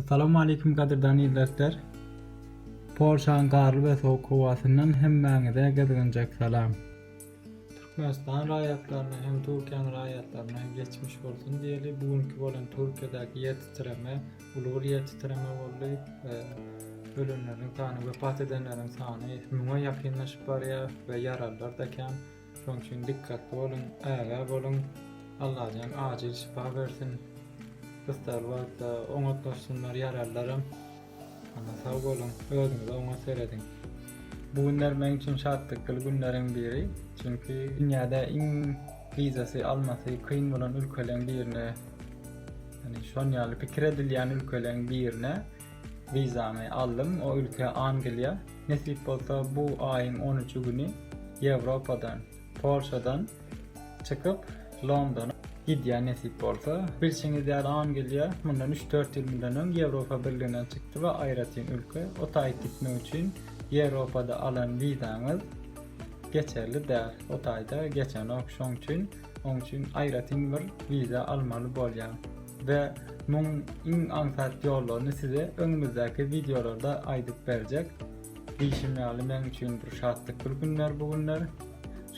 Assalamu Aleýkum gadyrdan ildersler! Polşaň garly we sowuk howasyndan hemmäňize gyzgynjak salam! Türkmenistan raýatlaryna hem Türkiýäň raýatlaryna geçmiş bolsun diýeli, bu günki bolan Türkiýedäki ýer titreme uly bir ýer titreme boldy, ölenleriň sany wepat edenleriň sany müňe ýakynlaşyp barýar we ýaralylar-da kän. Şoň üçin dikkatli boluň, ägä boluň. Allajan ajyl şypa bersin. Gyssagly wagtda oňatlaşsynlar ýaralylaram. Hana sag boluň, özüňize oňat serediň. Bu günler meň üçin şatlykly günleriň biri, çünki dünýäde iň wizasy almasy kyn bolan ülkeleň birine, ýagny şon ýaly pikir edilýän ülkeleň birine Wizamy aldym, o ülke Angliýa. Nesip bolsa bu aýyň on üçi güni Ýewropadan, Polşadan çykyp Londona gidýän nesip bolsa. Bilşiňiz ýaly Angliýa mundan üç-dört ýyl mundan öň Ýewropa birliginden çykdy we aýratyn ülke. O taýy gitmek üçin Ýewropada alan wizaňyz geçerli däl. O taýda geçenok şoň üçin, oň üçin aýratyn bir wiza almaly bolýar. we muň iň aňsat ýollaryny size öňümizdäki wideolarda aýdyp berjek. Diýşim ýaly meň üçin bir şatlykly günler bu günler.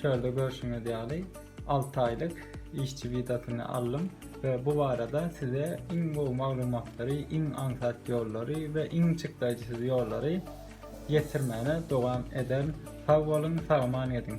Şöyle görşüňiz ýaly alty aýlyk işçi wizasyny aldym we bu barada size iň gowy maglumatlary, iň aňsat ýollary we iň çykdaýjysyz ýollary ýetirmäne dowam ederin. Sag boluň, sagaman gediň!